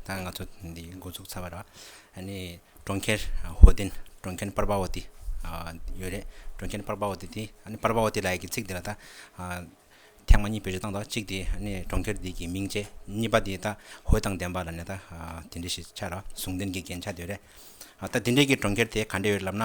ད་ང་ཚོ་འདི་འགོ་ཚུགས་ཚར་བ་རེད། ཨཱ་ནི་གྲོང་ཁྱེར་ཧོ་ཏིན། གྲོང་ཁྱེར་པར་པ་ཨོ་ཏི། ཡོད་རེད། གྲོང་ཁྱེར་པར་པ་ཨོ་ཏི་དེ། ཨཱ་ནི་པར་པ་ཨོ་ཏི་ལའི་གི་ཚིག་དེ་ལ་ད། ཐེངས་མ་གཉིས་བེད་སྤྱོད་བཏང་འདུག་གཅིག་དེ་ཨཱ་ནི་གྲོང་ཁྱེར་འདི་གི་མིང་བཅས། གཉིས་པ་དེ་ད་ཧོས་དང་ལྡན་པ་ལ་ནི་ད། དེ་འདྲ་ཞིག་ཆགས་ར། ཟུང་ལྡན་གྱི་རྒྱན་ཆ་དེ་རེད། ད་དེ་འདྲའི་གི་གྲོང་ཁྱེར་དེ་ག་འདྲ་ཡོད་རེད་ལབ་ན།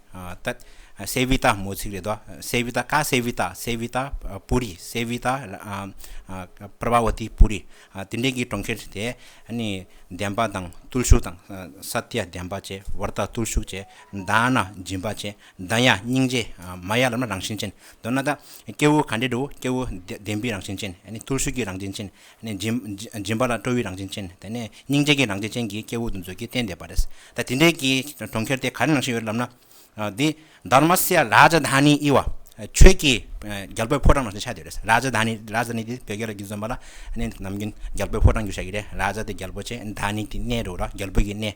ད། སེ་བྷི་ཏཱ་མོ་ཚིག་རེད་དོ། སེ་བྷི་ཏཱ་ཀ་སེ་བྷི་ཏཱ་སེ་བྷི་ཏཱ་པུ་རི་སེ་བྷི་ཏཱ་པར་བ་ཝུ་ཏི་པུ་རི་དེ་འདྲའི་གི་གྲོང་ཁྱེར་དེ་ནི་བདེན་པ་དང་བརྟུལ་ཞུགས་དང་ས་ཏི་ཡ་བདེན་པ་བཅས་བར་དག་བརྟུལ་ཞུགས་བཅས་མདའ་ན་སྦྱིན་པ་བཅས་མདའ་ཡང་སྙིང་རྗེ་མ་ཡ་ལམ་ན་རང་བཞིན་ཅན་མདོར་ན་ད་སྐྱེ་བོ་ག་འདྲེ་འདྲེ་བོ་སྐྱེ་བོ་བདེན་པའི་རང་བཞིན་ཅན་བརྟུལ་ཞུགས་ཀྱི་རང་བཞིན་ཅན་ནས། སྦྱིན་པ་ལ་སྤྲོ་བའི་རང་བཞིན་ཅན། དེ་ནས་སྙིང་རྗེ་གྱི་རང་བཞིན་ཅན་གྱིས་སྐྱེ་བོ་འདུ་འཛོད་ཀྱི་རྟེན་འདེབས་པ་རེད། ད་དེ་འདྲའི་གྱི་གྲོང་ཁྱེར་དེ་ག་རེ་ནང་བཞིན་ཡོད་ལབ་ན། འདི། དར་མ་སེ་ཡ་རཱ་ཇཱ་དྷ་ནཱི་ཨི་བ། ཆོས་ཀྱི་རྒྱལ་པོའི་ཕོ་བྲང་ནང་བཞིན་ཆགས་ཡོད་རེད། རཱ་ཇཱ་དྷ་ནཱི། རཱ་ཇཱ་ནི་དེ་བོད་སྐད་ལ་རྒྱུན་བཟོས་མ་ལ། ནམ་རྒྱུན་རྒྱལ་པོའི་ཕོ་བྲང་རྒྱུ་ཆགས་ཀྱི་རེད། རཱ་ཇཱ་དེ་རྒྱལ་པོ་ཅན། དྷ་ནཱི་དེ་གནས་རོགས་ར་རྒྱལ་པོ་གྱི་གནས།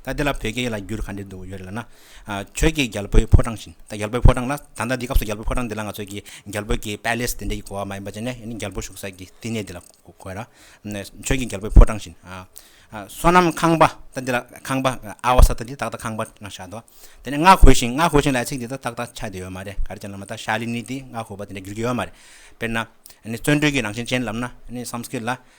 ད་འདི་ལ་བོད་སྐད་ཡིག་ལ་བསྒྱུར་ག་འདྲས་འདུག་ཡོད་རེད་ལབ་ན། ཁྱོད་ཀྱིས་རྒྱལ་པོའི་ཕོ་བྲང་བཞིན་ད་རྒྱལ་པོའི་ཕོ་བྲང་ལ་ད་ལྟ་འདི་སྐབས་སུ་རྒྱལ་པོའི་ཕོ་བྲང་འདི་ལ་ང་ཚོས་ཀྱི་རྒྱལ་པོའི་ཀྱི Palace དེ་འདྲས་ཀྱི་གོ་བ་མ་ཡིན་པ་ཅན་ནས་ཡིན་ནི་རྒྱལ་པོ་བཞུགས་ས་ཀྱི་བསྟི་གནས་འདི་ལ་གོ་ལ། ཁྱོད་ཀྱིས་རྒྱལ་པོའི་ཕོ་བྲང་བཞིན། བསོད་ནམས་ཁང་པ་ད་འདི་ལ་ཁང་པ་ཨའོ་ས་ད་འདི་ད་ད་ཁང་པ་ན་ཤར་འདུག་དེ་ནས་སྔགས་གོས་བཞིན་སྔགས་གོས་བཞིན་ལ་ཚིག་འདི་ད་ད་ད་ཆགས་བསྡད་ཡོད་མ་རེད་ག་རེ་ཅན་ལབ་ན་ད་ཤཱ་ལི་ནི་དེ་སྔགས་གོས་པ་དེ་འདྲས་བསྒྱུར་གྱི་ཡོད་མ་རེད་དཔེར་ན། བརྩོན་འགྲུས་ཀྱི་རང་བཞིན་ཅན་ལབ་ན Sanskrit ལ་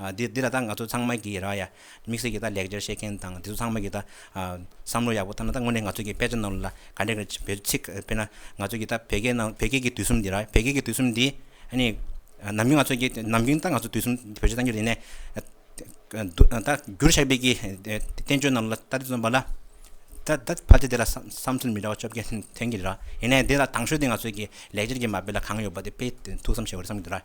འདི་འདི་ལ་ད་ང་ཚོ་ཚང་མ་གིས་རག་ཡ། དམིགས་བསལ་གྱིས་ད་ལེགས་སྦྱར་བཤད་མཁན་དང་དེ་ཚོ་ཚང་མ་གིས་ད། བསམ་བློ་ཡག་པོ་བཏང་ན་ད་དངོས་གནས་ང་ཚོ་གིས་དཔེ་ཆ་རྣམས་ལ་ག་འདྲས་ཀྱི་བོད་ཚིག་དཔེར་ན། ང་ཚོ་གིས་ད་བོད་སྐད་ནང་བོད་སྐད་ཀྱི་དུས་གསུམ་འདི་རག་བོད་སྐད་ཀྱི་དུས་གསུམ་འདི། ནི། ནམ་རྒྱུན་ང་ཚོ་གིས་ནམ་རྒྱུན་ད་ང་ཚོ་དུས་གསུམ་བོད་ཆས་བཏང་རྒྱུ་རེད་ནས། ད་བསྒྱུར་བཤགས་སྤེལ་གྱི་བསྟན་བཅོས་རྣམས་ལ་ད་དེ་ཚོ་འབའ་ལ། ད་ད་ཕལ་ཆེར་དེ་ལ་བསམ་ཚུལ་མི་འདྲ་བ་བཅོ་བརྒྱད་ཐོན་གྱི་རེད་རག་ཡིན་ནའི་དེ་ལ་དང་ཤོས་དེ་ང་ཚོ་གིས་ལེགས་སྦྱར་གྱི་མ་དཔེ་ལ་གང་ཡོད་པ་དེ་དཔེ་ཐུགས་བསམ་བཞེས་བར་བསམ་གྱི་འདུག་ར།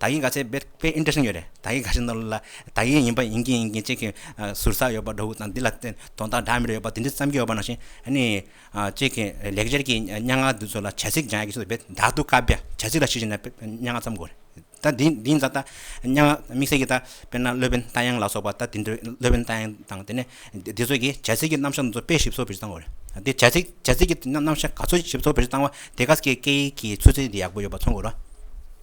དག་ཡིག་འགའ་ཚེ་དཔེ་དཔེ Interesting ཡོད་རེད་དག་ཡིག་འགའ་ཞིག་ནོར་ལ་དག་ཡིག་ཡིན་པ་ཡིན་གྱིན་ཡིན་གྱིན་ཅིག་གིས་ཟུར་ཟ་ཡོད་པ་འདྲ་བོ་དང་འདི་ལ་དོན་དག་འདྲ་མིན་རེ་ཡོད་པ་དེ་འདྲ་བརྩམས་ཀྱི་ཡོད་པ་ནང་བཞིན་ནི་ཅིག་གིས་ལེགས་སྦྱར་གྱི་སྙན་ངག་འདི་ཚོ་ལ་བྱ་ཚིག་སྦྱང་ཡག་གི་ཚོད་དཔེ་དག་ཏུ་དཀའ་བས་བྱ་ཚིག་ལ་གཞི་བཞིན་ནས་དཔེ་སྙན་ངག་བརྩམ་དགོས་རེད་ད་འདིའི་འདིའི་མཛད་སྟངས་སྙན་ངག་དམིགས་བསལ་གྱི་ད་དཔེར་ན་སློབ་དཔོན་རྟ་དབྱངས་ལ་སོགས་པ་ད་དེ་འདྲའི་སློབ་དཔོན་རྟ་དབྱངས་དང་དེ་ནས་དེ་ཚོ་གིས་བྱ་ཚིག་གི་རྣམ་གཞག་འདི་ཚོ་དཔེ་ཞིབ་གསོ་བེར་བཏང་དགོས་རེད་དེ་བྱ་ཚིག་བྱ་ཚིག་གི་རྣམ་གཞག་ག་ཚོད་ཞིབ་གསོ་བེར་བཏང་བ་དེ་ག་གི་སྐད་ཡིག་གི་ཚུལ་ཚད་ཡག་པོ་ཡོད་པ་མཚོན་དགོས་ར།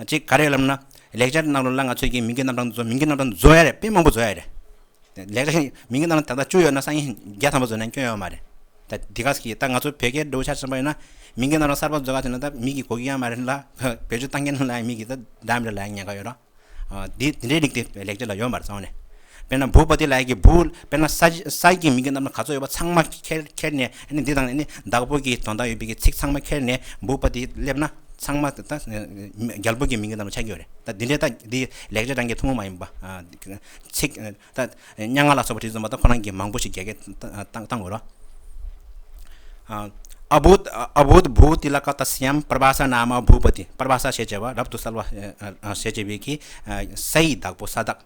གཅིག་ག་རེ་ལབ་ན་ལེགས་སྦྱར་གནང་རོགས་གནང་ང་ཚོས་ཀྱིས་མིང་གི་རྣམ་གྲངས་འདི་ཚོ་མིང་གི་རྣམ་གྲངས་འདི་བཟོ་ཡ་རེད་དཔེ་མང་པོ་བཟོ་ཡ་རེད་ལེགས་སྦྱར་མིང་གི་རྣམ་གྲངས་ད་ལྟ་བཅུ་ཡོད་ན་སང་ཉིན་བརྒྱ་ཐམ་པ་བཟོ་ན་སྐྱོན་ཡོད་མ་རེད་ད་འདི་ག་ཟེར་གྱི་ད་ང་ཚོ་བོད་སྐད་འགྲོ་འཆར་ཟིན་པ་ཡིན་ན་མིང་གི་རྣམ་གྲངས་གསར་པ་བཟོ་ག་ཟེར་ན་ད་མིག་གིས་གོ་གི་ཡ་མ་རེད་ལ་བེད་སྤྱོད་གཏང་མཁན་ལ་ཡང་མིག་གིས་ད་བདག་མེད་ལ་ཡང་ཉན་ག་ཡོད་རོགས་འདི་འདྲའི་རིགས་དེ་ལེགས་སྦྱར་ལ་ཡོད་མ་རེད་གཙང་མ་ནས། དཔེར་ན་འབུ་བ་དེ་ལ་གི་འབུ། དཔེར་ན་ས། ས་ཀྱི་མིང་གི་རྣམ་པ་ག་ཚོད་ཡོད་པ་ཚང་མ་ཁྱེར་ཁྱེར་ནས་ནི་འདི་དང་ནི་བདག་པོ་གི་དོན་དག་ཡོད་པའི་གི་ཚིག་ཚང་མ་ཁྱེར་ནས་འབུ་བ་དེ་སླེབས་ན་ཚང་མ་ད་རྒྱལ་པོ་གི་མིང་གི་རྣམ་པ་ཆགས་ཀྱི་ཡོད་རེད་ད་འདི་འདྲས་ད་འདི་ལེགས་སྒྲིག་རང་གི་ཐུང་ངུ་མ་ཡིན་པ། ཚིག་ད་སྙན་ངག་ལ་སོགས་པ་བྲིས་ཚོམ་པ་ད་ཁོ་རང་གིས་མང་པོ་ཞིག་རྒྱལ་ཁད་བཏང་དགོས་རོགས། ཨ་བུ། ཨ་བུ། འབུ་དེ་ལ་ཀ་ད་སི་ཡམ་པར་བ་ས་ན་མ་འབུ་བ་དེ་པར་བ་ས་ཞེས་བྱ་བ་རབ་ཏུ་གསལ་བ་ཞེས་བྱ་བའི་གི་ས་ཡི་བདག་པོ་ས་བདག།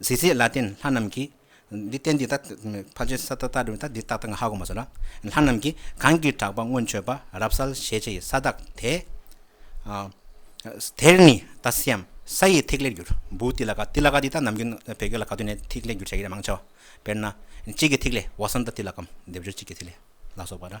གཟི་བརྗིད་ལ་བརྟེན་ལྷ་རྣམས་ཀྱིས། འདི་བསྟན་འདི་ལྟར་འཕགས་བྱའི་ས་བདག་བདག་འདྲི་བ་དང་འདི་བདག་དང་ཧ་གོ་མ་སོགས་ལ། ལྷ་རྣམས་ཀྱིས་གང་གིས་གྲགས་པ་སྔོན་མཆོད་པ་རབ་གསལ་ཞལ་ཕྱེ་ཡི་ས་བདག་དེ། དེར་ནི་ད་སེའམ་ས་ཡི་ཐིག་ལེར་འགྱུར། འབུ་ཏི་ལ་ཀ་ཏི་ལ་ཀ་ཏི་དང་ནམ་རྒྱུན་བོད་སྐད་ལ་ག་ཏུན་ནས་ཐིག་ལེ་འགྱུར་བྱ་ཡི་རེ་མང་ཆེ་བ། དཔེར་ན། གཅིག་གི་ཐིག་ལེ་བ་སམ་ད་ཏི་ལ་ཀའམ་སྡེབ་སྦྱོར་གཅིག་གི་ཐིག་ལེ་ལ་སོགས་པ་འདྲ།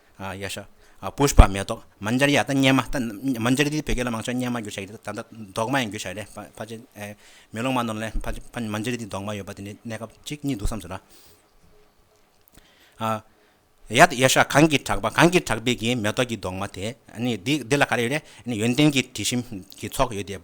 ཡ་ཤ། Pushpa། མེ་ཏོག། མཱ་འཇར་ཡ། སྙེ་མ། མཱ་འཇར་ཡ་འདི་བོད་སྐད་ལ་མང་ཆེ་བ་སྙེ་མ་བསྒྱུར་བྱ་ཡི་གཏམ་ད། མདོག་མ་ཡང་བསྒྱུར་བྱ་ཡི་རེད། ཕ་ཆེ། མེ་ལོང་མ་ནོར་ལེ། ཕ། མཱ་འཇར་ཡ་འདི་མདོག་མ་ཡོད་པ་དེ་ནི་གནས་སྐབས་གཅིག་གཉིས་འདུག་བསམ་ཚོད་ར། ཡ། ཡ་ཤ། གངས་ཀྱི་བྲག་པ་གངས་ཀྱི་བྲག་དཔལ་གྱི་མེ་ཏོག་གི་མདོག་མ་དེ། འདི་ལ་ག་རེ་ཡོད་རེད། ཡོན་ཏན་གྱི་དྲི་ཞིམ་གྱི་ཚོགས་ཡོད་དེ།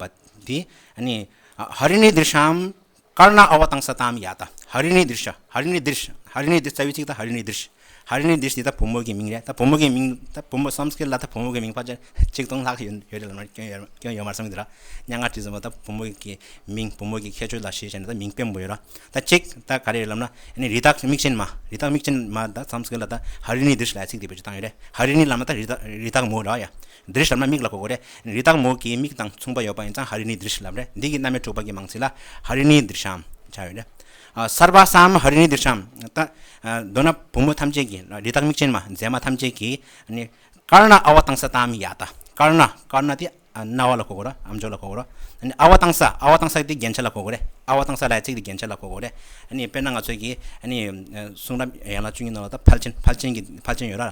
འདི། ཧ་རི་ནི་དིར་ཤམ། དཀར་ནག་ཨ་བ་དང་ས་དམ་ཡ་ད་ཧ་རི་ནི་དིར་ཤ་ཧ་རི་ནི་དིར་ཤ་ཧ་རི་ནི་དིར་རྩ་བའི་ཚིག་ད་ཧ་རི་ནི་དིར་ཤ་ཧ་རི་ནི་དིར་ཤ་དེ་ད་བུ་མོ་གི་མིང་རེད་ད་བུ་མོ་གི་མིང་ད་བུ་མོ་སམ་སྐད་ལ་ད་བུ་མོ་གི་མིང་ཕ་ཆེར་ཆིག་སྟོང་ལྷག་ཡོད་རེད་ལབ་ན་སྐྱོན་ཡོད་སྐྱོན་ཡོད་མ་སོང་གི་ད་སྙན་ངག་བྲིས་ཟིན་པ་ད་བུ་མོ་གི་མིང་བུ་མོ་གི་ཁྱད་ཆོས་ལ་གཞི་བྱས་ནས་ད་མིང་སྤེལ་མོ་ཡོད་ར་ད་ཅིག་ད་ག་རེ་རེད་ལབ་ན་ནི་རི་དྭགས་མིག་ཅན་མ་རི་དྭགས་མིག་ཅན་མ་ད་སམ་སྐད་ལ་ད་ཧ་རི་ནི་དིར་ཤ་ལ་ཡ་ཚིག་དེ་བེད་སྤྱོད་བཏང་ཡོད་རེད་ཧ་རི་ནི་ལབ་ན་ད་རི་དྭགས་རི་དྭགས་མོ་ར་ཡ་འདིར་ཞབས་ན་མིག་ལ་གོ་གོ་རེ་རེའི་སྟག་མོ་གི་མིག་དང་མཚུངས་པ་ཡོད་པ་ཡིན་ཙང་ཧ་རི་ནི་འདིར་ཞབས་རེ་འདི་ཀྱི་རྣམ་དབྱེ་དྲུག་པ་ཀྱི་མང་ཚིག་ལ་ཧ་རི་ནི་འདིར་ཞབས་བྱ་ཡོད་རེ། སརྦ་བསམ་ཧ་རི་ནི་འདིར་ཞབས་ཏེ། མདོར་ན་བུ་མོ་ཐམས་ཅད་ཀྱི་རི་དྭགས་མིག་ཅན་མ་མཛེས་མ་ཐམས་ཅད་ཀྱི་ནི། དཀར་ནག་ཨ་བ་དང་ས་དང་མི་ཡ་ཏཱ། དཀར་ནག་དཀར་ནག་དེ་རྣ་བ་ལ་གོ་གོ་རེ་ཨ་མཆོག་ལ་གོ་གོ་རེ། ཨ་བ་དང་ས་ཨ་བ་དང་ས་དེ་རྒྱན་ཆ་ལ་གོ་གོ་རེ་ཨ་བ་དང་ས་ལའི་ཚིག་དེ་རྒྱན་ཆ་ལ་གོ་གོ་རེ། དཔེར་ན་ང་ཚོས་ཀྱི་གསུང་རབ་ཡན་ལག་བཅུ་གཉིས་ནང་ལ་ད་ཕལ་ཆེན་ཕལ་ཆེན་གྱི་ཕལ་ཆེན་ཡོད་ར།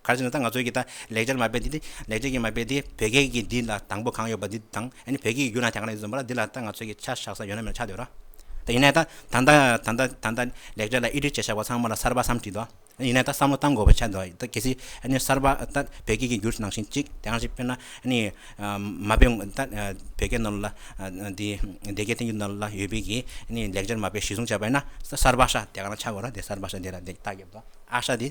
ག་རེ་བྱས་ན་ད་ང་ཚོའི་གི་ད་ལེགས་སྦྱར་མ་དཔེ་འདི་འདི་ལེགས་སྦྱར་གྱི་མ་དཔེ་འདི་བོད་སྐད་ཀྱི་འདི་ལ་དང་པོ་གང་ཡོད་པ་འདི་དང་ཡེ་ནས་བོད་སྐད་ཀྱི་རྒྱུ་ན་དེ་གང་ན་ཡོད་ཟེར་བ་ལ་འདི་ལ་ད་ང་ཚོའི་གི་ཆ་བཞག་ས་ཡོད་ན་མེད་ན་ཆ་འདོད་ར། ད་ཡིན་ན་ད་ད་ལྟ་ད་ལྟ་ད་ལྟ་ལེགས་སྦྱར་ལ་ཨི་འབྲི་བྱེད་བཞག་པ་ཚང་མ་ལ་གསར་པ་བསམ་བྲིས་འདུག་ཡིན་ན་ད་བསམ་བློ་གཏང་དགོས་པའི་ཆ་འདུག་ད་གལ་སྲིད་ཡེ་ནས་གསར་པ་ད་བོད་སྐད་ཀྱི་རྒྱུ་ནང་བཞིན་གཅིག་དེ་གང་ཞིག་དཔེར་ན་ཡེ་ནས་མ་དཔེ་ད་བོད་སྐད་ནང་ལ་འདི་སྡེ་དགེ་བསྟན་འགྱུར་ནང་ལ་ཡོད་པའི་གི་ཡེ་ནས་ལེགས་སྦྱར་མ་དཔེ་གཞི་བཟུང་བྱས་པ་ཡིན་ན་གསར་པ་ཤ་དེ་གང་ན་ཆ་དགོས་ར་དེ་གསར་པ་ཤ་འདི་ར་འདི་ལྟག་རྒྱབ་ཏུ་ཨ་ཤ་འདི།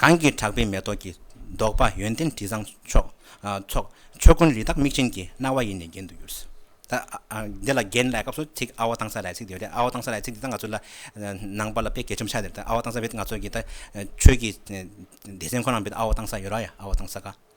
གང་གིས་གྲགས་པའི་མེ་ཏོག་གི་མདོག་དཔའ་ཡོན་ཏན་དྲི་བཟང་ཚོགས། ཆོས་ཀུན་རི་དྭགས་མིག་ཅན་གྱི་རྣ་བ་ཡིས་ནི་བརྒྱན་དུ་གྱུར། འདི་ལ་བརྒྱན་ལེགས་སྐབས་སུ་ཚིག་ཨ་བ་ཏང་སཱ་ལའི་ཚིག་འདི་ཨ་བ་ཏང་སཱ་ལའི་ཚིག་འདི་དང་ང་ཚོ་ལ་ནང་པ་ལ་དཔེ་གལ་ཆེན་པོ་ཆགས་ཟིན་ཨ་བ་ཏང་སཱ་བས་ང་ཚོ་གི་ཆོས་ཀྱི་སྡེ་ཚན་ཁོ་ན་བས་ཨ་བ་ཏང་སཱ་ཡོད་ར་ཡ་ཨ་བ་ཏང་སཱ་ག།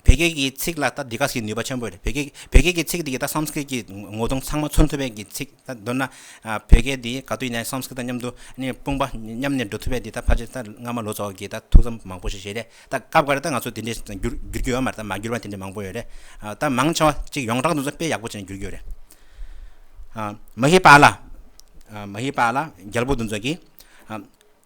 བོད་སྐད་ཀྱི་ཚིག་ལ་ད་འདི་ག་ཟིག་ནུས་པ་ཆེན་པོ་རེད་བོད་སྐད་བོད་སྐད་ཀྱི་ཚིག་འདི་གི་ད་སངས་སྐིར་གྱི་ངོ་གདོང་ཚང་མ་མཚོན་ཐུབ་པའི་གི་ཚིག་ད་མདོར་ན་བོད་སྐད་འདི་ག་དུས་ཡིན་ན་སངས་སྐིར་དང་མཉམ་དུ་ནི་དཔུང་པ་མཉམ་ནས་འགྲོ་ཐུབ་པའི་འདི་ད་ཕར་ཆེར་ད་སྔ་མ་ལོ་ཙཱ་བ་ཀྱི་ད་ཐུགས་བསམ་མང་པོ་ཞིག་བཞེས་རེད་ད་སྐབས་འགར་ད་ང་ཚོ་འདི་འདྲའི་འགྱུར་འགྱུར་གྱི་ཡོད་མ་རེད་ད་མ་འགྱུར་བ་དེ་འདྲའི་མང་པོ་ཡོད་རེད་ད་མང་ཆེ་བ་གཅིག་ཡོངས་གྲགས་འདུག་ཚོ་དཔེ་ཡག་པོ་ཅན་འགྱུར་གྱི་ཡོད་རེད་མ་ཧེ་པཱ་ལ་མ་ཧེ་པཱ་ལ་རྒྱལ་པོ་འདུ་འཛོ་གིས་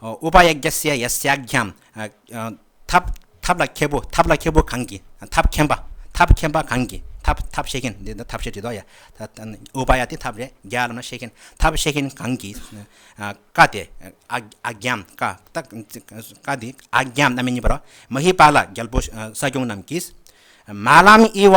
ཨུ་པ་ཡཱ་རྒྱ་སེ་ཡཱ་སེ་ཡཱ་རྒྱ། ཐབས་ལ་མཁས་པོ་ཐབས་ལ་མཁས་པོ་གང་གིས་ཐབས་མཁྱེན་པ་ཐབས་མཁྱེན་པ་གང་གིས་ཐབས་ཐབས་ཤེས་མཁན་འདི་ཐབས་ཤེས་བྲིས་འདུག་ཨུ་པ་ཡཱ་དེ་ཐབས་རེད་རྒྱ་ལ་ཤེས་མཁན་ཐབས་ཤེས་མཁན་གང་གིས་བཀའ་དེ་ཨ་རྒྱ་བཀའ་བཀའ་དེ་ཨ་རྒྱ་རྣམ་སྨིན་གཉིས་པ་རོ་མ་ཧི་པ་ལ་རྒྱལ་པོ་ས་སྐྱོང་རྣམས་ཀྱིས། མ་ལམ་དབྱི་བ་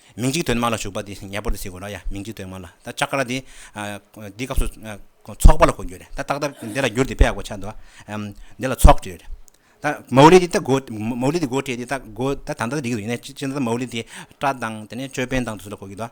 མིང་གཅིག་དོན་མ་ལ་ཞུགས་པ་དེ་ཉེ་པོར་དུ་བྱེད་དགོས་རོགས་ཡ་མིང་གཅིག་དོན་མ་ལ་ད་ཆ་ཀ་ར་དེ་འདི་སྐབས་སུ་ཚོགས་པ་ལ་གོ་རྒྱུ་རེད་ད་ཏག་ཏག་འདི་ལ་འགྱུར་དེ་པེ་ཡ་གོ་ཆ་འདུག་ཨ་འདི་ལ་ཚོགས་བྲིས་རེད་ད་མའོ་ལི་དེ་ད་གོ་མའོ་ལི་དེ་གོ་བྲིས་དེ་ད་གོ་ད་ད་ལྟ་འགྲིག་གི་འདུག་ཡིན་ན་ཅི་ན་ད་མའོ་ལི་དེ་སྤྲ་དང་དེ་ནས་ཅོད་པན་དང་དུ་ཚུད་ལ་གོ་རྒྱུ་འདུག།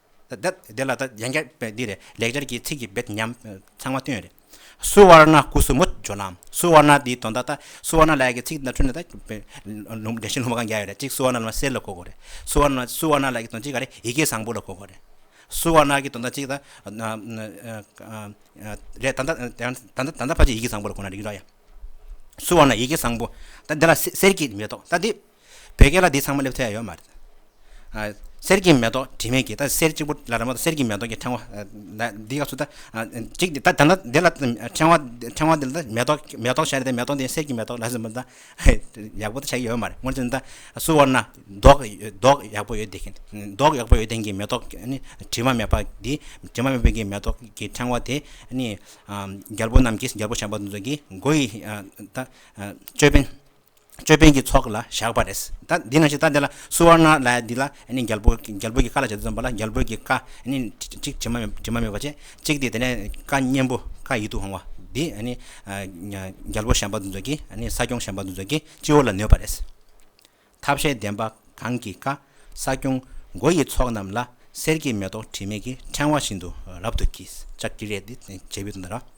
འདི་ལ་ད་ཡན་ཁྱབ་འདི་རེད་ལེགས་སྦྱར་གྱི་ཚིག་གི་འབེད་ཉམས་ཚང་མ་བཏོན་རེད། སུ་ཝར་ན་སྐུ་གསུམ་མོ་ཇོ་ནང་སུ་ཝར་ན་འདིའི་དོན་དག་ད་སུ་ཝར་ན་ལགས་ཀྱི་ཚིག་ན་འཁྲུལ་ན་ད་ལུང་བདེན་ཞིང་ལྷུག་མ་གང་རྒྱག་ཡོད་རེད་གཅིག་སུ་ཝར་ན་ལ་མ་གསེར་ལ་གོ་དགོས་རེད་སུ་ཝར་ན་སུ་ཝར་ན་ལགས་ཀྱི་དོན་གཅིག་ག་རེད་ཡི་གེ་བཟང་པོ་ལ་གོ་དགོས་རེད། སུ་ཝར་ན་གྱི་དོན་དག་གཅིག་ད་རེད་ད་ད་ད་ད་ཕ་ཆེ་ཡི་གེ་བཟང་པོ་ལ་གོ་ན་རིག་ར་ཡ། སུ་ཝར་ན་ཡི་གེ་བཟང་པོ་ད་འདི་ལ་གསེར་གྱི་མེ་ཏོག་ད་འདི། བོད་སྐད་ལ་འདི་ཚང་མ་སླེབས་ཐུབ་ཡ་ཡོད་མ་རེད། གསེར་གྱི་མེ་ཏོག་དྲི་མེད་ཀྱི་ད་གསེར་གཅིག་པོ་ལ་ར་མོ་ད་གསེར་གྱི་མེ་ཏོག་གི་ཕྲེང་བ། འདི་ག་ཚོ་ད་གཅིག་འདི་ད་ད་འདི་ལ་ཕྲེང་བ་ཕྲེང་བ་འདི་ལ་མེ་ཏོག་མེ་ཏོག་བྱས་ནས་མེ་ཏོག་འདི་གསེར་གྱི་མེ་ཏོག་ལ་ཟེར་མོད་ད་ཡག་པོ་ད་བྱས་ཀྱི་ཡོད་མ་རེད་སྔོན་ཆད་ད་སུ་བར་ན་མདོག་མདོག་ཡག་པོ་ཡོད་དེ་མདོག་ཡག་པོ་ཡོད་དེ་གི་མེ་ཏོག་ནི་དྲི་མ་མེད་པ་འདི་དྲི་མ་མེད་པའི་གི་མེ་ཏོག་གི་ཕྲེང་བ་དེ་ནི་རྒྱལ་པོ་རྣམས་ཀྱིས་རྒྱལ་པོ་བྱམས་པ་ཚོགས་ཀྱིས་མགོ་ཡི་ད་ཅོད་པན། ཅོད་པན་གྱི་ཚོགས་ལ་བཞག་པ་རེད། ད་འདི་ན་ཞིག་ལྟ་དེ་ལ་སུ་ཝར་ནཱ་རཱ་ཡ་འདི་ལ་རྒྱལ་པོ་རྒྱལ་པོ་གྱི་བཀའ་ལ་བྱ་རྩོད་འཛོམས་པ་ལ་རྒྱལ་པོའི་གི་བཀའ་དྲི་མ་དྲི་མ་མེད་པ་བྱེད་ཅིག་དེ་དེ་ནས་བཀའ་གཉན་པོ་བཀའ་ཡིད་དུ་འོང་བ་འདི་རྒྱལ་པོ་ཞམ་པ་འདུ་འཛོ་གི་ས་སྐྱོང་ཞམ་པ་འདུ་འཛོ་གི་སྤྱི་བོ་ལ་ནོད་པ་རེད། ཐབས་ཤེས་ལྡན་པ་གང་གི་བཀའ་ས་སྐྱོང་མགོ་ཡི་ཚོགས་རྣམས་ལ་གསེར་གྱི་མེ་ཏོག་དྲི་མེད་ཀྱི་ཕྲེང་བ་བཞིན་དུ་རབ་ཏུ་གྱིས་ཅག་གི་རེད་འདི་བྱེད་པའི་དོན་དང།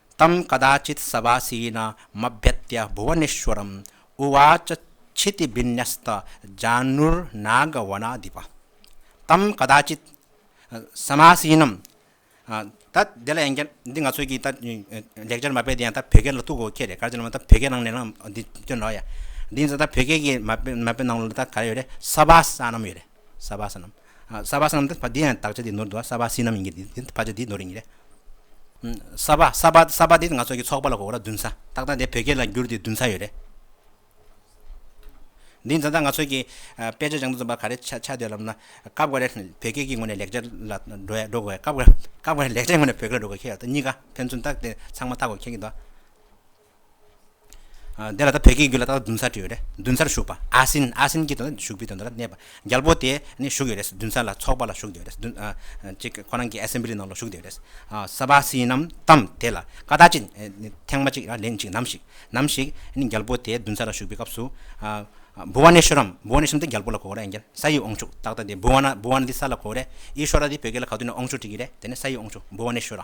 ཏམ་ཀ་དཱ་ཅིཏ་སྭ་བཱ་སི་ཡི་ན་མ་བེད་ཏྱ་བྷུ་བ་ནེ་ཤཱུ་རཱམ་ཨུ་ཝཱ་ཅ་ཆི་ཏི་བྷི་ནཱ་སྟ་ཇཱ་ནུར་ནཱ་ག་བ་ནཱ་དཱི་བ། ཏམ་ཀ་དཱ་ཅིཏ་སྭ་མཱ་སི་ཡི་ནམ། ད་དེ་ལ་ཡང་བསྐྱར་འདི་ང་ཚོས་ཀྱིས་ད་ལེགས་སྦྱར་མ་དཔེ་འདི་ཡང་ད་བོད་སྐད་ལ་གཏུགས་གོ་ཁྱེད་རེ་གར་ཅི་ལ་མོ་ད་བོད་སྐད་ནང་ནས་ལའང་འདི་སྟོན་རོགས་ཡ། འདི་ད་བོད་སྐད་ཀྱི་མ་དཔེ་ནང་ལ་ད་ག་རེ་ཡོད་རེད་སྭ་བཱ་སྭ་ནམ་ཡོད་རེད། སྭ་བྷཱ་སྣམ། སྭ་བྷཱ་སྣམ་འདི་ཡང་དག་ཆ་དེའི་ནོར་འདུག་སྭ་བྷཱ་སི་སྣམ་ཡིན་གྱི་འདི་འདི་ཕ་ཆ་དེའི་ནོར་ཡིན་གྱི་རེད། སྭ་བྷཱ་སྭ་བྷཱ་སྭ་བྷཱ་འདི་ང་ཚོ་གི་ཚོགས་པ་ལ་གོ་ལ་བདུན་ས་ཏག་ཏག་འདི་བོད་སྐད་ལ་བསྒྱུར་དེ་བདུན་ས་ཡོད་རེད། འདི་འཛིན་བདག་ང་ཚོ་གི་དཔེ་ཆ་སྦྱང་དུ་འཛིན་པ་ག་རེ་ཆ་ཆ་དེ་ལབ་ན་སྐབས་འགར་རེ་བོད་སྐད་ཀྱི་ངོས་ནས་ལེགས་སྦྱར་ལ་འགྲོ་ཡ་འགྲོ་དགོས་ཡ་སྐབས་འགར་སྐབས་འགར་ལེགས་སྦྱར་ངོས་ནས་བོད་སྐད་ལ་འགྲོ་དགོས་ཁྱེད་ལ་ད་གཉིས་ཀ་ཕན་ཚུན་ཏག་དེ་ཚང་མ་ལྟ་དགོས་ཁྱེད་ཀྱི་འདོད། དེ་ལ་ད་བོད་སྐད་བརྒྱུད་ལ་ད་བདུན་ཚར་བྲིས་ཡོད་རེད་མདུན་ཚར་བཞུགས་པ་ཨ་སིན་ཨ་སིན་གྱི་དོན་ན་བཞུགས་པའི་དོན་དུ་ལ་གནས་པ་རྒྱལ་པོ་དེ་ནི་བཞུགས་ཡོད་རེད་མདུན་ཚར་ལ་ཚོགས་པ་ལ་བཞུགས་ཡོད་རེད་ཅིག་ཁོ་རང་གི Assembly ནང་ལ་བཞུགས་ཡོད་རེད་ས་བ་སིའི་ནམ་དམ་དེ་ལ་ཀ་བཏགས་ཅིག་ཐེངས་མ་ཅིག་ར་ལན་ཅིག་ནམ་ཞིག་ནམ་ཞིག་ནི་རྒྱལ་པོ་དེ་མདུན་ཚར་ལ་བཞུགས་པའི་སྐབས་སུ་བུ་བ་ནེ་ཤོ་རམ་བུ་བ་ནེ་ཤོ་རམ་དེ་རྒྱལ་པོ་ལ་གོ་རེ་ཨན་ཀྱར་ས་ཡི་ཨོང་ཆུག་ཏག་ཏག་དེ་བུ་བ་ན་བུ་བ་ན་དེ་ས་ལ་གོ་རེ་ཨི་ཤོ་ར་དེ་བོད་སྐད་ལ་ག་དུས་ན་ཨོང་ཆུག་བྲིས་ཀྱི་རེད་དེ་ནི་ས་ཡི་ཨོང་ཆུག་བུ་བ་ནེ་ཤོ་ར།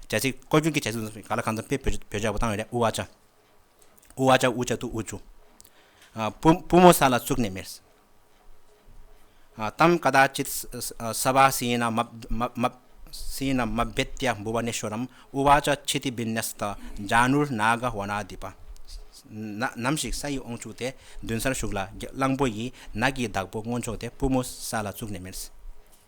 རྒྱལ་སྲིད་བསྐོ་སྐྱོང་གི་བྱ་སྤྱོད་ག་ལ་གང་འཚམ་སྤེལ་བོད་བྱ་བ་བཏང་ཡོད་རེད་ཨུ་ཨ་ཅག། ཨུ་ཨ་ཅག་ཨུ་ཅག་ཏུ་ཨུ་ཆུ། པུ་པུ་མོ་ས་ལ་བཙུགས་ནས་མེར་སྲམ་ཀ་དག་ཅིག་ས་བ་སི་ཡིན་ན་མ་མ་སི་ཡིན་ན་མ་བེད་ཏེ་འབུ་བ་ནས་ཤོར་རམ་ཨུ་ཨ་ཅག་ཆི་ཏི་བིན་ནས་ཏ་འཇ་ནུར་ན་ག་བ་ན་དི་པ་ནམ་ཞིག་ས་ཡི་ཨོང་ཕྱུགས་དེ་མདུན་སར་ཞུགས་ལ་གླང་པོ་ཡིས་ནགས་ཀྱི་བདག་པོ་སྔོན་ཆོག་དེ་པུ་མོ་ས་ལ་བཙུགས་ནས་མེར་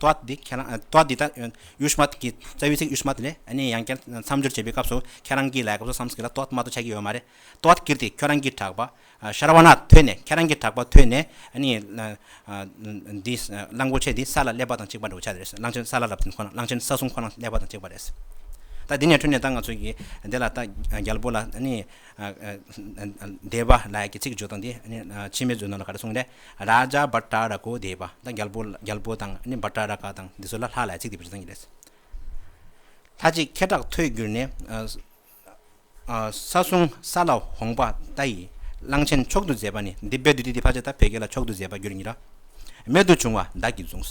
དོ་བདག་འདི་ཁྱེད་རང་དོ་བདག་འདི་ལྟར་ཡུལ་སྨྲ་དགེ་རྩ་བའི་ཚིག་ཡུལ་སྨྲ་དེ་ལས་ནི་ཡང་བསྐྱར་མཚམས་སྦྱོར་བྱེད་པའི་སྐབས་སུ་ཁྱེད་རང་གིས་ལས་སྐབས་སུ་བསམ་གི་ལ་དོ་བདག་སྨྲ་དོ་ཆགས་ཀྱི་ཡོད་མ་རེད་དོ་བདག་འདི་ཁྱོད་རང་གིས་གྲགས་པ་ཤར་བ་ན་ཐོས་ནས་ཁྱེད་རང་གིས་གྲགས་པ་ཐོས་ནས་ནི་འདི་གླང་པོ་ཆེ་འདི་ས་ལ་སླེབས་པ་དང་གཅིག་པ་འགྲོ་བྱ་རེད་གླང་ཆེན་ས་ལ་ལབ་ཟིན་ཁོ་ན་གླང་ཆེན་ས་སྲུང་ཁོ་ན་སླེབས་པ་དང་གཅིག་པ་རེད་ད་འདི་ནས་ཐོས་ནས་ད་ང་ཚོ་གིས་འདི་ལ་ད་རྒྱལ་པོ་ལ་ནི་བདེ་བ་ལགས་ཀྱི་ཚིག་བརྗོད་དོ་འདི་ཕྱི་མའི་མཛོད་ནང་ལ་ག་རེ་གསུངས་རེད། ར་ཇ་བ་ཏྲ་ར་ཀོ་དེ་བ་དང་རྒྱལ་པོ་རྒྱལ་པོ་དང་ནི་བ་ཏྲ་ར་ཀ་དང་འདི་ཚོ་ལ་ལྷ་ལ་ཚིག་འདི་བཞིན་བྱེད་ཙང་གྱི་རེད། ལྷ་གཅིག་ཁེ་གྲགས་ཐོས་གྱུར་ནས། ས་སྲུང་ས་ལ་འོངས་པ་ཏཱ་ཡིས་གླང་ཆེན་མཆོག་ཏུ་མཛད་པ་ནི་འདི་དཔལ་བདུད་སྡེ་འདི་ཕ་ཆ་ད་བད་ཀན་ལ་མཆོག་ཏུ་མཛད་པ་རྒྱུར་ཉིད་ར་མེད་དུ་བྱུང་བ་བདག་གིས་བཟུང།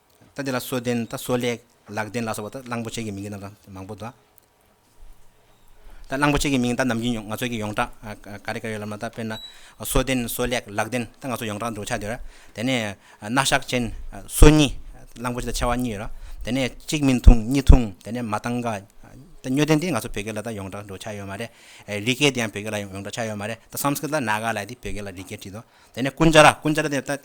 ད་འདི་ལ་གསོལ་ལྡན་ད་གསོལ་ལེགས། ལག་ལྡན་ལ་སོགས་པ་ད་གླང་པོ་ཆེ་གི་མིང་གི་རྣམ་གྲངས་མང་པོ་འདུག། ད་གླང་པོ་ཆེ་གི་མིང་ད་ནམ་རྒྱུན་ང་ཚོ་གི་ཡོངས་གྲགས་ག་རེ་ག་རེ་ཡོད་ལབ་ན་ད་དཔེར་ན། གསོལ་ལྡན་གསོལ་ལེགས་ལག་ལྡན་ད་ང་ཚོ་ཡོངས་གྲགས་འདུག་ཆ་དེ་ར། དེ་ནས་སྣ་ཞགས་ཅན་གསོལ་གཉིས་གླང་པོ་ཆེ་ད་ཆེ་བ་གཉིས་ཡོད་ར། དེ་ནས་གཅིག་མིན་ཐུང་གཉིས་ཐུང་དེ་ནས་མ་ཏང་ག། ད་སྨྱོ་ལྡན་འདི་ང་ཚོ་བོད་སྐད་ལ་ད་ཡོངས་གྲགས་འདུག་ཆ་ཡོད་མ་རེད། རི་སྐད་འདི་ཡང་བོད་སྐད་ལ་ཡོངས་གྲགས་ཆ་ཡོད་མ་རེད་ད་སམ་སྐིར་ད་ན་ག་ལ་ཡི་འདི་བོད་སྐད་ལ་རི་སྐད་བྲིས་འདུག་དེ་ནས་ཀུན་ཅཱ་ར་ཀུན་ཅཱ་ར་དེ་ད།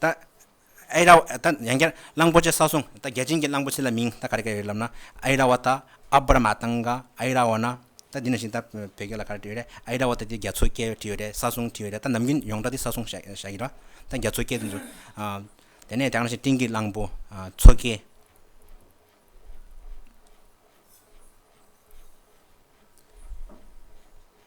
ད། ཨའི་ར། ད་ཡང་བསྐྱར་གླང་པོ་ཆེ་ས་སོང། ད་རྒྱལ་ཆེན་གྱི་གླང་པོ་ཆེ་ལ་མིང་ད་ག་རེ་ག་རེ་ཡོད་ལབ་ན། ཨའི་ར་བ་ད་ཨབ་ར་མ་ཏང་ག་ཨའི་ར་བ་ན། ད་འདི་ནང་བཞིན་ད་བོད་སྐད་ལ་ག་རེ་བྲིས་ཡོད་རེད་ཨའི་ར་བ་ད་འདི་རྒྱ་མཚོའི་སྐད་བྲིས་ཡོད་རེད་ས་སོང་བྲིས་ཡོད་རེད་ད་ནམ་རྒྱུན་ཡོངས་གྲགས་འདི་ས་སོང་བྱ་བྱ་ཡི་ར། ད་རྒྱ་མཚོའི་སྐད་དུ་འཛུགས། དེ་ནས་དྲག་ན་བཞིན་སྤྲིན་གྱི་གླང་པོ། མཚོ་སྐད།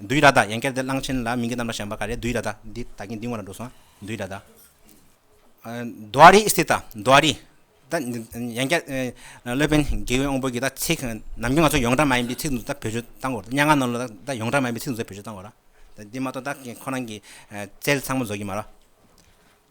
བདུད་ར་དྭ་ཡན་ཀེར་དེ་གླང་ཆེན་ལ་མིང་གི་རྣམ་པར་བྱང་པ་ག་རེ་བདུད་ར་དྭ་འདི་ད་གིན་འདི་ངོ་ལ་འགྲོ་སོང་བདུད་ར་དྭ། མདོ་རི་སི་ཏཱ་མདོ་རི་དྭ་ཡན་ཀེར་སློད་པན་དགེ་བའི་དབང་པོ་གི་དྭ་ཚིག་ནམ་རྒྱུན་ང་ཚོ་ཡོངས་གྲགས་མ་ཡིན་པའི་ཚིག་འདུག་དྭ་བོད་ཆུ་དྭ་འགོར་སྙ་ང་ནང་ལོ་དྭ་ཡོངས་གྲགས་མ་ཡིན་པའི་ཚིག་འདུག་དྭ་བོད་ཆུ་དྭ་འགོར་ར་འདི་མ་གཏོགས་དྭ་ཁོ་རང་གི་རྩལ་ཚང་མ་རྫོགས་ཀྱི་མ་ར།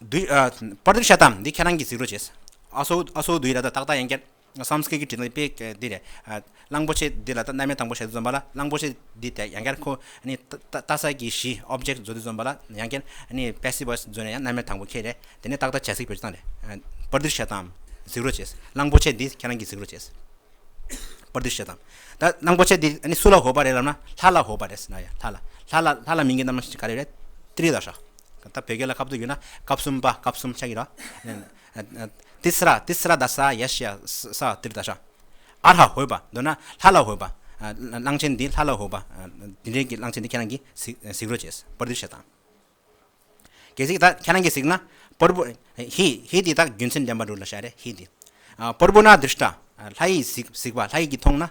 པར་དེབ་ཤ་ཏམ་འདི་ཁྱེད་རང་གིས་གཟིགས་རོགས་བྱས། ཨ་སོ་ཨ་སོ་འདུས་ལ་ད་ཏག་ཏག་ཡན་ཀྱར Sanskrit གི་དྲི་ལན་དཔེ་འདི་རེད། གླང་པོ་ཆེ་འདི་ལ་ད་གནའ་མའི་དང་པོ་ཞལ་འདི་འཛོམས་པ་ལ་གླང་པོ་ཆེ་འདི་དེ་ཡན་ཀྱར་ཁོ་ནི་ཏཱ་སཱ་ཀྱི་གཞི Object བཟོ་འདི་འཛོམས་པ་ལ་ཡན་ཀྱར Passive Voice བཟོས་ནས་ཡང་གནའ་མའི་དང་པོ་ཁྱེད་རེད་དེ་ནས་ཏག་ཏག་བྱས་གཟིགས་བོད་ཆུ་ཚང་རེད། པར་དེབ་ཤ་ཏམ་གཟིགས་རོགས་བྱས། གླང་པོ་ཆེ་འདི་ཁྱེད་རང་གིས་གཟིགས་རོགས་བྱས། པར་དེབ་ཤ་ཏམ། ད་གླང་པོ་ཆེ་འདི་སུ་ལ་ཧོ་པ་རེད་ལབ་ན་ལྷ་ལ་ཧོ་པ་རེད། ལྷ་ལ། ལྷ་ལ་མིང་གི་རྣམ་གཞག་ག་རེ་རེད། ཏྲི་ལ་ཧྲ། ད་བོད་སྐད་ལ་ཁ་བསྡུར་ཡོད་ན་སྐབས་གསུམ་པ་སྐབས་གསུམ་ཆགས་ཀྱི་ར། Tisra Tisra ད་ས་ཡ་ཤི་ཡ་ས་ཏིར་ད་ཤ། ཨ་ལྷ་ཧོས་པ་འདོད་ན་ལྷ་ལ་ཧོས་པ། གླང་ཆེན་འདི་ལྷ་ལ་ཧོས་པ། དེ་འདྲའི་གི་གླང་ཆེན་འདི་ཁྱེད་རང་གི་གཟིགས་རོགས་བྱས། པར་འདི་བཤད་དང། གལ་སྲིད་ད་ཁྱེད་རང་གི་གཟིགས་ན། པོར་བུ། ཧི་ཧི་འདི་ད་རྒྱུ་མཚན་ལྡན་པ་འདུག་ལ་ཤ་རེ་ཧི་འདི། པོར་བུ་ན་དིར་ཤྲཱི། ལྷ་ཡིས་གཟིགས་པ་ལྷ་ཡིས་གི་མཐོང་ན།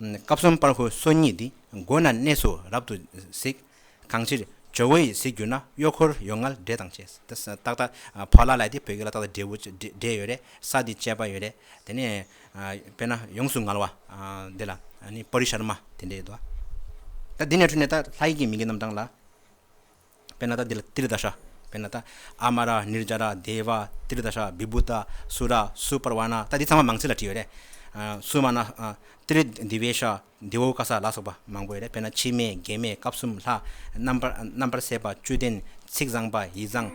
སྐབས་གསུམ་པར་ཧོས་སོ་གཉིས་འདི་མགོ་ན་གནས་སུ་རབ་ཏུ་གཟིགས། གང་ཕྱིར་ཇོ་བོ་ཡི་གཟིགས་གྱུར་ན་གཡོག་འཁོར་ཡོངས་སྔར་འདྲེ་དང་བཅས། ཏག་ཏག་བོ་ལ་ལས་འདི་བོད་ཀྱི་ལ་དྭགས་དང་འབྲེལ་བོ་འབྲེལ་ཡོད་རེད་ས་འདི་བཅས་པ་ཡོད་རེད་དེ་ནས་དཔེར་ན་ཡོངས་སུ་མངལ་བ་འདི་ལ་པོ་རི་ཤར་མ་དེ་འདྲས་ཡོད་དོ། ད་འདི་ནས་འཕྲོས་ནས་ད་ལྷ་ཡི་གི་མིང་གི་རྣམ་གྲངས་ལ། པེ་ན་ཏཱ་ཏི་ལ་ཏི་ལ་ཏཱ་ཧྲ། པེ་ན་ཏཱ། ཨ་མ་ར། ནིར་ཇ་ར། དེ་བ། ཏི་ལ་ཏཱ་ཧྲ། བི་བྷུ་ཏ། སུ་ར། སུ་པར་བ་ན། ད་འདི་ཚང་མ་མང་ཚིག་ལ་བྲིས་ཡོད་རེད། སུ་མ་ན། ཏི་ལི། དི་བའི་ཧྲ། དི་བོའུ་ཀ་ས་ལ་སོགས་པ་མང་པོ་ཡོད་རེད། དཔེར་ན་འཆི་མེད། དགེ་མེད། སྐབས་གསུམ། ལྷ། རྣམ་པར། རྣམ་པར་སད་པ། བཅུད་ལྡན། ཚིག་བཟང་པ། ཡིད་བཟང།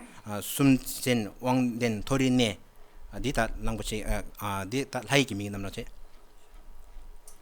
སུན་འབྱིན། དབང་ལྡན། མཐོ་རིས་གནས། འདི་ལྟར། གླང་པོ་ཆེ། འདི་ལྟར། ལྷ་ཡིག་གི་མིང་རྣམས་ལ་བྱེད།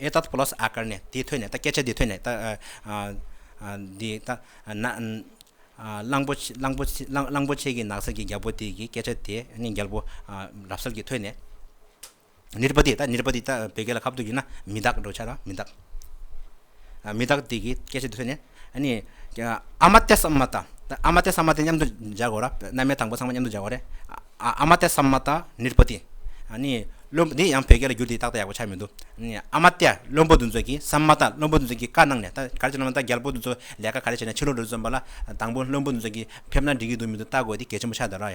ཨེ་ཏཱད་པོ་ལོས་ཨ་ཀར་ནས་དེ་ཐོས་ནས་ད་སྐད་ཆ་འདི་ཐོས་ནས་ད། འདི་ད། གླང་པོ་ཆེ་གླང་པོ་ཆེ་གླང་པོ་ཆེ་གི་ནགས་ཚལ་གྱི་རྒྱལ་པོ་དེ་གི་སྐད་ཆ་དེ་ནི་རྒྱལ་པོ་རབ་གསལ་གྱིས་ཐོས་ནས། ནེ་རི་པ་ཏི་ད་ནེ་རི་པ་ཏི་ད་བོད་སྐད་ལ་ཁ་བརྡུང་བྱས་ན་མི་དག་འགྲོ་བྱ་དང་མི་དག། མི་དག་དེ་གིས་སྐད་ཅིག་ཏུ་ཐོས་ནས། ཨ་མ་ཏེ་སམ་མ་ཏཱ། ཨ་མ་ཏེ་སམ་མ་ཏཱ་མཉམ་དུ་སྦྱར་དགོས་ར། རྣལ་མའི་དང་པོ་ཚང་མ་མཉམ་དུ་སྦྱར་བ་རེད། ཨ་མ་ཏེ་སམ་མ་ཏཱ་ནིར་བྷོ་ཏི། འདི་ཡང་བོད་སྐད་ལ་བསྒྱུར་དེ་ཏག་ཏག་ཡག་པོ་ཆགས་མི་འདུག། ཨ་མ་ཏེ་བློན་པོ་འདི་ཚོ་གིས་སམ་མ་ཏཱ་བློན་པོ་འདི་ཚོ་གིས་བཀའ་གནང་ནས་ད་ག་རེ་བྱས་ན་ཨ་མ་ཏཱ་རྒྱལ་པོ་འདི་ཚོ་ལས་ཀ་ག་རེ་བྱས་ནས་ཕྱི་ལོག་འགྲོ་རྩིས་བརྩམས་པ་ལ་དང་པོ་བློན་པོ་འདི་ཚོ་གིས་ཕེབས་ན་འགྲིག་གི་འདུག་མི་འདུག་བལྟ་དགོས་དེ་གལ་ཆེན་པོ་ཆགས་འདུག་ར།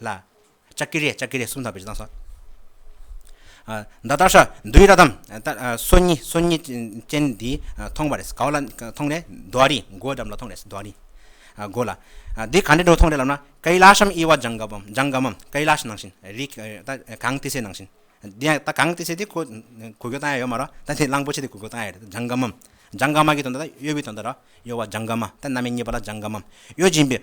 ལ། ལྕགས་ཀྱི་རས་ལྕགས་ཀྱི་རས་གསུམ་དང་བེར་ཟངས་སོགས། མདའ་རྟ་ཧྲ་འདུལ་ར་དམ་སོ་གཉིས་སོ་གཉིས་ཅན་འདི་མཐོང་བ་རེད་ག་བ་ལ་མཐོང་རེད་མདོ་ཨ་རིའི་མགོའི་འགྲམ་ལ་མཐོང་རེད་མདོ་ཨ་རིའི་མགོ་ལ། འདི་ག་འདྲའི་སྒྲུང་མཐོང་རེད་ལབ་ན་ཀཱི་ལཱ་ཤམ་དབྱི་བ་ལྗང་ག་བམ་ལྗང་ག་མམ་ཀཱི་ལཱཤ་ནང་བཞིན་རིག་ད་གངས་ཏི་སེ་ནང་བཞིན་འདི་ཡང་ད་གངས་ཏི་སེ་འདི་གོ་གོ་རྒྱུ་ད་ཡང་ཡོད་མ་རོ་ད་འདི་གླང་པོ་ཆེ་འདི་གོ་རྒྱུ་ད་ཡང་ཡོད་རེད་ལྗང་ག་མམ་ལྗང་ག་མ་གི་དོན་ད་གཡོ་བའི་དོན་ད་རོ། གཡོ་བ་ལྗང་ཀ་མ་སྟེ་སྣ་མའི་རྙེད་པ་ལ་ལྗང་ཀ་མམ་གཡོ་སྦྱིན་པའི།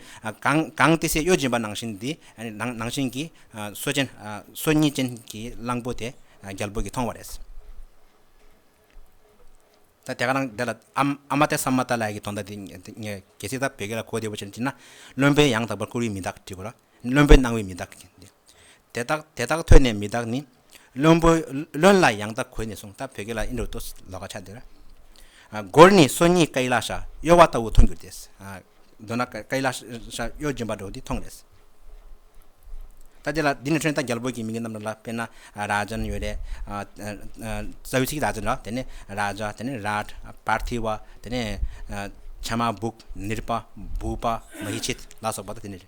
གང་སྟེ་སའི་གཡོ་སྦྱིན་པ་ནང་བཞིན་དེ། ནང་བཞིན་གྱི། སོ་ཅན། སོ་གཉིས་ཅན་གྱི་གླང་པོ་དེ། རྒྱལ་པོ་གྱིས་མཐོང་བ་རེད། ད་དེ་ག་རང་འདི་ལ་ཨ་མ་སྟེ་ས་མ་ཏཱ་ལ་ཡ་གྱི་དོ་ཟླ་འདི། གལ་སྲིད་ད་བོད་སྐད་ལ་གོ་བདེ་བོ་བྱེད་ན། བློན་པོའི་ཡང་དག་པར་བཀུར་བའི་མི་དག་བྲིས་དགོས་ལ། བློན་པོའི་སྣང་བས་མི་དག། དེ་དག་དེ་དག་ཐོས་ནས་མི་དག་ནི། བློན་པོ་བློན་ལ་ཡང་དག་གོས་ནས་སོང་སྟབས་བོད་སྐད་ལ་ཨིན་རུ་ཏོས་ལོ་ཀ་ཆ་འདིར། སྒོར་ནི་སོ་གཉིས་ཀཱི་ལ་ཤ་གཡོ་བ་ལྟ་བུ་མཐོང་གྱུར་ཏེ། མདོར་ན་ཀཱི་ལ་ཤ་གཡོ་སྦྱིན་པ་འགྲོ་འདི་མཐོང་རེས། ད་དེ་ལ་འདི་ནི་ཁྲོན་ཏཱ་རྒྱལ་པོ་གྱི་མིང་གི་རྣམ་གྲངས་ལ་དཔེར་ན་ར་ཇཱན་ཡོད་རེད། རྩ་བའི་ཚིག་ར་ཇཱན་ལ་དེ་ནི་ར་ཇཱ་དེ་ནི་རཱར། པར་ཐི་བ་དེ་ནི་ཆ་མ་བུག་ནིར་པ་བུག་པ་མ་ཧི་ཆིད་ལ་སོགས་པ་དང་དེ་ནི།